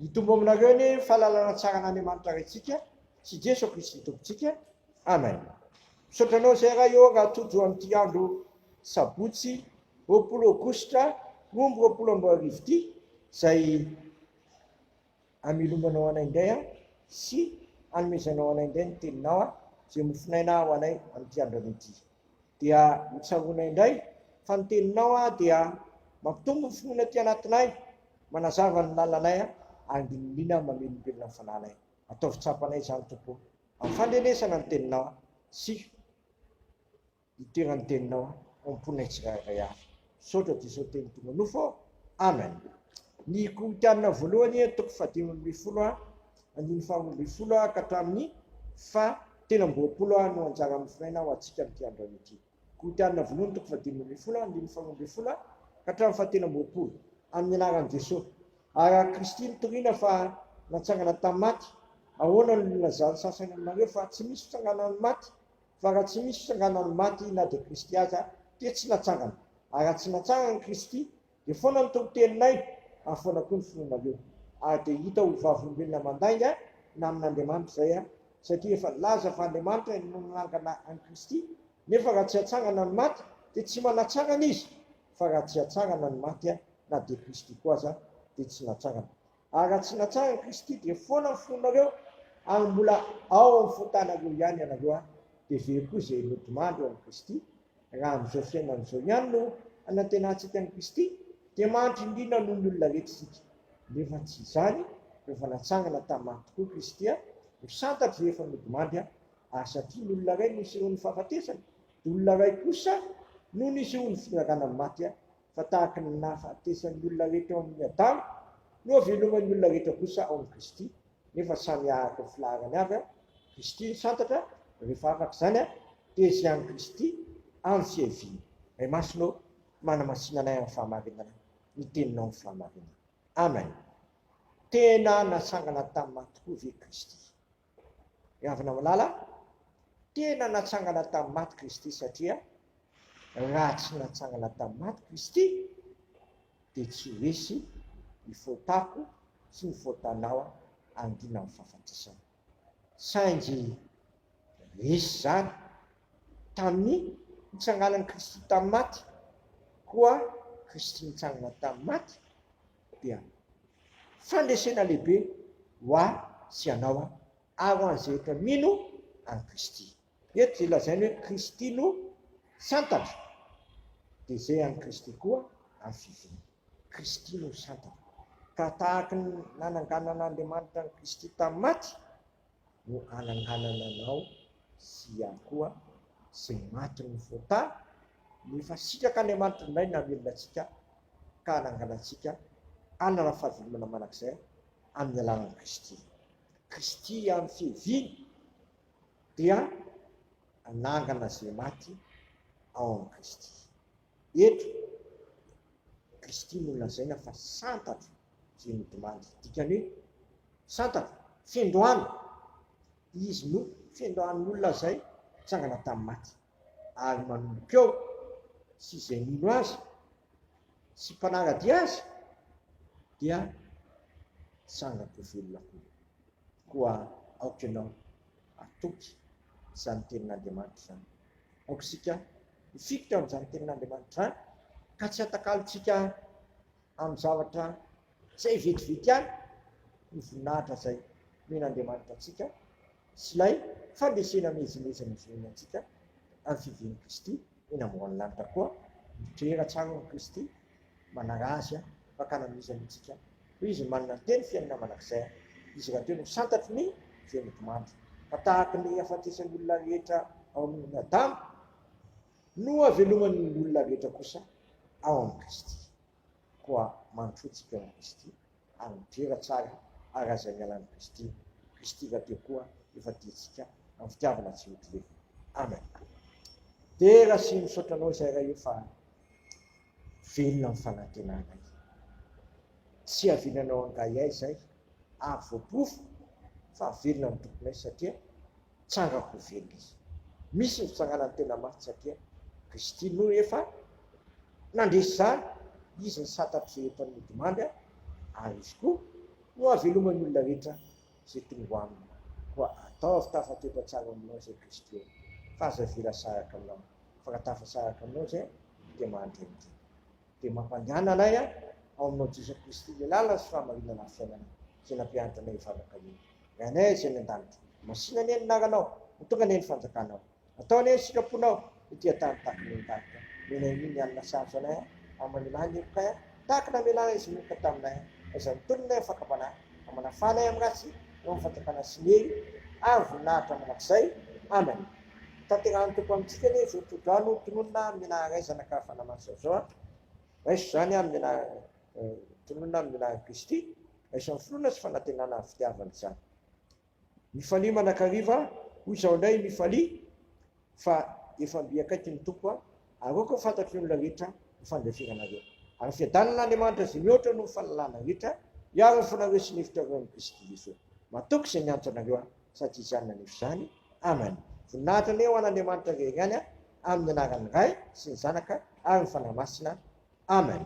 Hitombo aminareo anie ny fahalalana tsara an'Andriamanitra Raintsika sy Jeso Kristy Tompontsika. Amen. Misaotra anao izay Ray ô raha tojo amin'ity andro sabotsy roapolo aogositra roa amby roapolo amby roa arivo ity izay Hamelomanao anay indray aho sy hanomezanao anay indray ny Teninao aho, izay mofonaina ho anay amin'ity andronay ity. Dia hotsaroanay indray fa ny Teninao dia mampitombo ny finoana aty anatinay, manazava ny lalanay ary milina mamelombelona ny fanahinay. Ataovy tsapanay izany, Tompo o, amin'ny fandrenesana ny Teninao sy. Hitoeran ny teninao ao am ponay tsirairay avy. Misaotra Jesosy teny tonga nofo ô! Amen! Ny Korintiana voalohany toko fahadimy ambin'ny folo a, andininy faha roa ambin'ny folo ka hatramin'ny faha telo amby roapolo no anjara mifinaina ho antsika amin'ity androany ity. Korintiana voalohany toko fahadimy ambin'ny folo andininy faha roa ambin'ny folo ka hatramin'ny faha telo amby roapolo. Amin'ny anaran'i Jesosy. Araka Kristy nitoriana fa natsangana tamin'ny maty, ahoana no nilazan'ny sasany aminareo fa tsy misy fitsanganan'ny maty? Fa raha tsy misy fitsanganan'ny maty na dia Kristy aza dia tsy natsangana. Ary raha tsy natsangana Kristy dia foana ny toriteninay ary foana koa ny finoanareo. Ary dia hita ho vavolombelona mandainga na amin'Andriamanitra izay aho, satria efa nilaza fa Andriamanitra no nanangana an'i Kristy, nefa raha tsy hatsangana ny maty dia tsy manatsangana izy, fa raha tsy hatsangana ny maty na dia Kristy koa aza dia tsy natsangana. Ary raha tsy natsara Kristy dia foana ny fonareo ary mbola ao amin'ny fontanareo ihany ianareo an! Dia very koa izay nodimandry ao amin'i Kristy. Raha amin'izao fiainana izao ihany no hanantenantsika an'i Kristy dia mahantra indrindra noho ny olona rehetra isika. Nefa tsy izany, rehefa natsangana tamin'ny maty tokoa Kristy an! ho santatry izay efa nodimandry an! Ary satria ny olona iray no nisehoan'ny fahafatesana, dia olona iray kosa no nisehoan'ny fitongagana amin'ny maty an! fa tahaka ny nahafatesan'ny olona rehetra ao amin'ny Adama, nohaveloman'ny olona rehetra kosa ao amin'i Kristy, nefa samy araka ny filaharany avy an, Kristy no santatra, rehefa afaka izany an, dia izay an'i Kristy any tsy hiaviana. Ray Masina ô, manamasina anay amin'ny fahamarinana ny Teninao amin'ny fahamarinana. Amen. Tena natsangana tamin'ny maty koa ve Kristy? Ry havana malala, tena natsangana tamin'ny maty Kristy satria raha tsy natsangana tamin'ny maty Kristy dia tsy ho resy ny fotako sy ny fotanao angina amin'ny fahafatesana. Saingy resy izany tamin'ny nitsanganan'i Kristy tamin'ny maty, koa Kristy nitsangana tamin'ny maty dia fandresena lehibe ho ahy sy ianao aho ary ho an'izay rehetra mino an'i Kristy. Eto izay lazainy hoe Kristy no santatra dia izay an'i Kristy koa amin'ny fivoriana. Kristy no santatra. Ka tahaka ny nananganan'Andriamanitra an'i Kristy tamin'ny maty, no ananganana anao sy ihany koa sy ny matin'ny fota ny efa sitraka any amantin indray namelona antsika ka ananganantsika anana fahavelomana manakizay amin'ny alalan'i Kristy Kristy amin'ny fiheviany dia anangana izay maty ao amin'i Kristy Eto, Kristy no lazaina fa santatra izay nodimandry. Dikany hoe, santatra, fendrohana. Izy no fendrohan'ny olona izay nitsangana tamin'ny maty, ary manomboka eo, sy izay mino Azy sy mpanara-dia Azy dia tsangako velona koa. Koa aoka ianao hatoky izany tenin'Andriamanitra izany. Aoka isika Isika ao amin'izany tenin'Andriamanitra izany ka tsy atakalontsika amin'ny zavatra izay vetivety ihany ny voninahitra izay nomen'Andriamanitra antsika sy ilay fandresena miezinezina nozonoiny antsika amin'ny fivian'i Kristy eny ambony lanitra koa, Mitrera tsara hono Kristy Manarazy an! Fakana mihintsy aloha tsika hoe izy manana telo fihainona mandrakizay an! Izy rahateo no santatry ny feno-dimandry fa tahaka ny hafatesan' olona rehetra ao amin' i Adama no haveloman' ny olona rehetra kosa ao amin' i Kristy. Koa mandroso tsika amin' i Kristy. Ary midera tsara ary aza miala amin'i Kristy, Kristy rahateo koa efa diantsika amin'ny fitiavana tsy mety levona. Amen. Dera sy misaotra anao izay Ray ô fa velona amin'ny fanantenanay. Tsy hiaviananao angahiay izay ary voaporofo fa velona ny tomponay satria tsara ho velona izy. Misy ny fitsanganan'ny tena maty satria Kristy no efa nandresy izany, Izy ny santatr'izay eto amin'ny odimandry ary Izy koa no haveloman'ny olona rehetra izay tongo Aminy. Koa ataovy tafatoetra tsara aminao izay Kristy eo fa aza avela saraka aminao, fa raha tafasaraka aminao izay dia mandre ny dina. Dia mampandàna anay Aho ao aminao Jesoa Kristy ilay làlana sy fahamarinana ary fiainana izay nampianatra anay hivavaka io Ray anay izay any an-danitra masina anie ny anaranao ho tonga anie ny fanjakanao atao anie ny sitraponao ety an-tany tahaka ny any an-danitra menay anie ny alina sarotra anay a ary mamelà ny heloka a tahaka ny namelàna izy niheloka taminay a aiza ny tolona eo ny fakam-panahy ka manafà anay amin'ny ratsy eo amin'ny fanjakana sy ny hery ary voninahitra mandrakizay Amen. Tanterahan'ny Tompo amintsika anie izao todrano tononina mena raizana ka fanamasina izao an! Raiso izany amin'ny mena tononina amin'ny menarin'i Kristy, raiso amin'ny finoana sy fanantenana ary fitiavana izany. Mifalia manakariva an! Hoy izaho indray, mifalia fa efa mby akaiky ny Tompo an! Aroako ho fantatry ny olona rehetra ny fandeferanareo. Ary fiadanin'Andriamanitra izay mihoatra noho ny fahalalana rehetra, hiaro ny fonareo sy ny hevitrareo amin'i Kristy Jesoa. Matoky izay miantso anareo an! Sa tsy izany naneso izany? Amen. Voninahitra anie ho an' Andriamanitra irery ihany an, amin' ny anaran' ny Ray sy ny Zanaka ary ny Fanahy Masina. Amen.